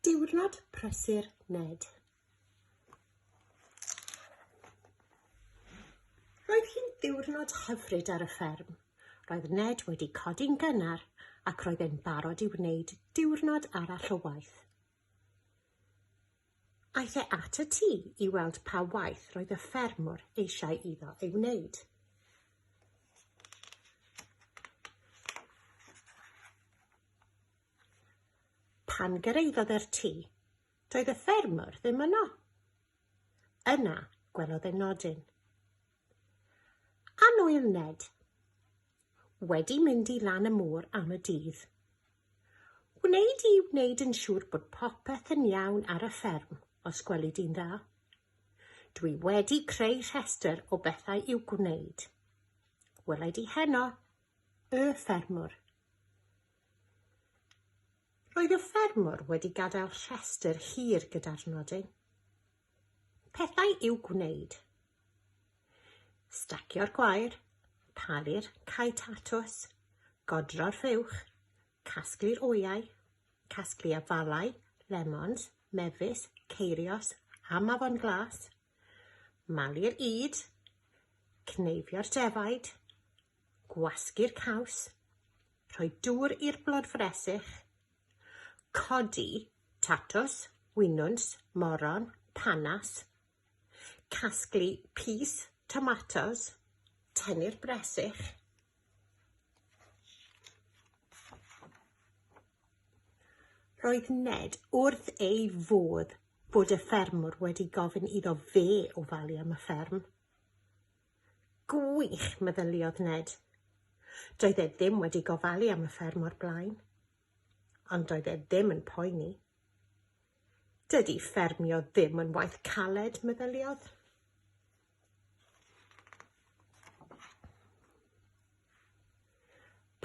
Diwrnod prysur Ned. Roedd hi'n ddiwrnod hyfryd ar y fferm. Roedd Ned wedi codi'n gynnar ac roedd e'n barod i wneud diwrnod arall o waith. Aeth e at y tŷ i weld pa waith roedd y ffermwr eisiau iddo ei wneud. Pan gyrhaeddodd e'r tŷ, doedd y ffermwr ddim yno. Yna, gwelodd e nodyn. Anwyl Ned. Wedi mynd i lan y môr am y dydd. Wneud i wneud yn siŵr bod popeth yn iawn ar y fferm, os gweli di'n dda. Dwi wedi creu rhestr o bethau i'w gwneud. Welai di heno, y ffermwr. Roedd y ffermwr wedi gadael rhestr hir gyda'r nodyn. Pethau i'w gwneud. Stacio'r gwair, palu'r cae tatws, godro'r rhywch, casglu'r wyau, casglu afalau, lemons, mefus, ceirios a mafon glas, Malu'r ŷd, cneifio'r defaid, gwasgu'r caws, rhoi dŵr i'r blod fresyll, codi tatws, winwns, moron, panas, casglu pys, tomatos, tynnu'r bresych, Roedd Ned wrth ei fodd bod y ffermwr wedi gofyn iddo fe ofalu am y fferm. Gwych, meddyliodd Ned. Doedd e ddim wedi gofalu am y fferm o'r blaen. Ond doedd e ddim yn poeni. Dydy ffermio ddim yn waith caled, meddyliodd.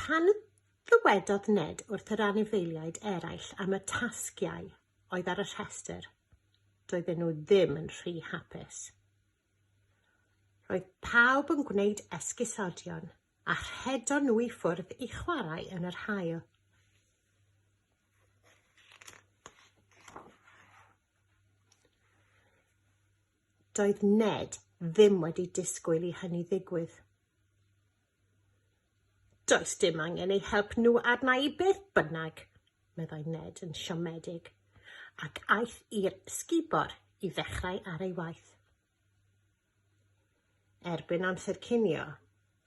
Pan ddywedodd Ned wrth yr anifeiliaid eraill am y tasgiau oedd ar y rhestr, doedden nhw ddim yn rhy hapus. Roedd pawb yn gwneud esgusodion a rhedon nhw i ffwrdd i chwarae yn yr haul. Doedd Ned ddim wedi disgwyl i hynny ddigwydd. Does dim angen eu help nhw arna i beth bynnag, meddai Ned yn siomedig, ac aeth i'r sgubor i ddechrau ar ei waith. Erbyn amser cinio,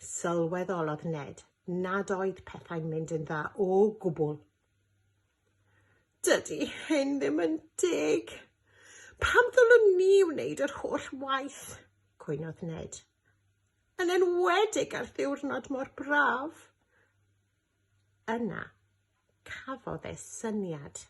sylweddolodd Ned nad oedd pethau'n mynd yn dda o gwbl. Dydy hyn ddim yn deg. Pam ddylwn ni wneud yr holl waith? cwynodd Ned. Yn enwedig ar ddiwrnod mor braf. Yna, cafodd e syniad.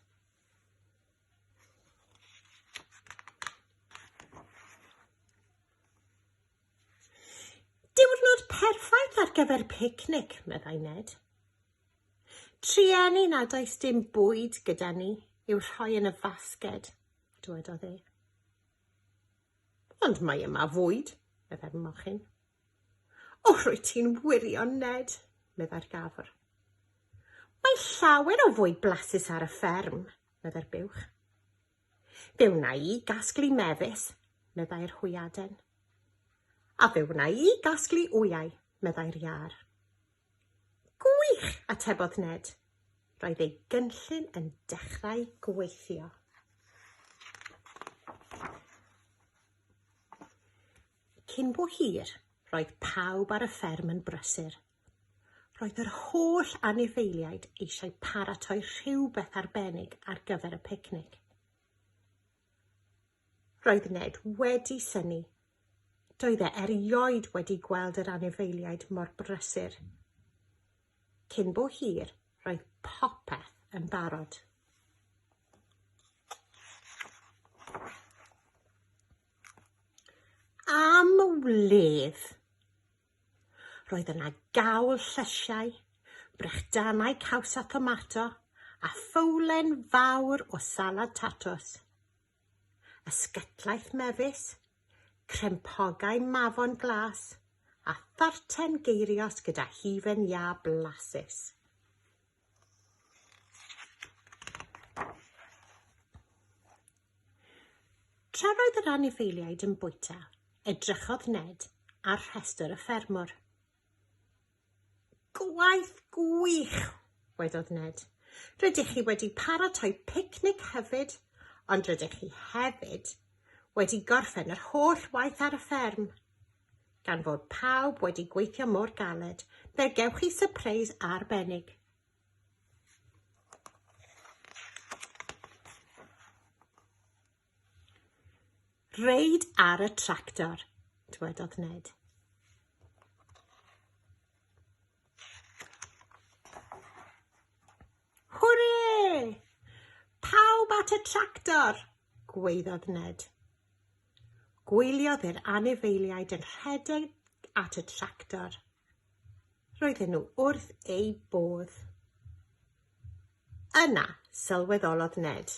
Diwrnod perffaith ar gyfer picnic, meddai Ned. Trueni nad oes dim bwyd gyda ni i'w rhoi yn y fasged, dywedodd e. Ond mae yma fwyd, meddai'r mochyn. O, rwy ti'n wirion, Ned, meddai'r gafr. Mae llawer o fwyd blasus ar y fferm, meddai'r buwch. Fe wna i gasglu mefus, meddai'r hwyaden. A fe wna i gasglu wyau, meddai'r iâr. Gwych! atebodd Ned. Roedd ei gynllun yn dechrau gweithio. Cyn bo hir, roedd pawb ar y fferm yn brysur Roedd yr holl anifeiliaid eisiau paratoi rhywbeth arbennig ar gyfer y picnic. Roedd Ned wedi syni. Doedd e erioed wedi gweld yr anifeiliaid mor brysur. Cyn bo hir, roedd popeth yn barod. Am wledd! Roedd yna gawl llysiau, brechdanau caws a thomato, a ffowlen fawr o salad tatws. Ysgytlaeth mefus, crempogau mafon glas, a tharten geirios gyda hufen iâ blasus. Tra roedd yr anifeiliaid yn bwyta, edrychodd Ned ar rhestr y ffermwr. Gwaith gwych, wedodd Ned. Rydych chi wedi paratoi picnic hefyd, ond rydych chi hefyd wedi gorffen yr holl waith ar y fferm. Gan fod pawb wedi gweithio mor galed, fe gewch chi sypreis arbennig. Reid ar y tractor, dwedodd Ned. Hwrê! Pawb at y tractor! gwaeddodd Ned. Gwyliodd yr anifeiliaid yn rhedeg at y tractor. Roedden nhw wrth eu bodd. Yna, sylweddolodd Ned.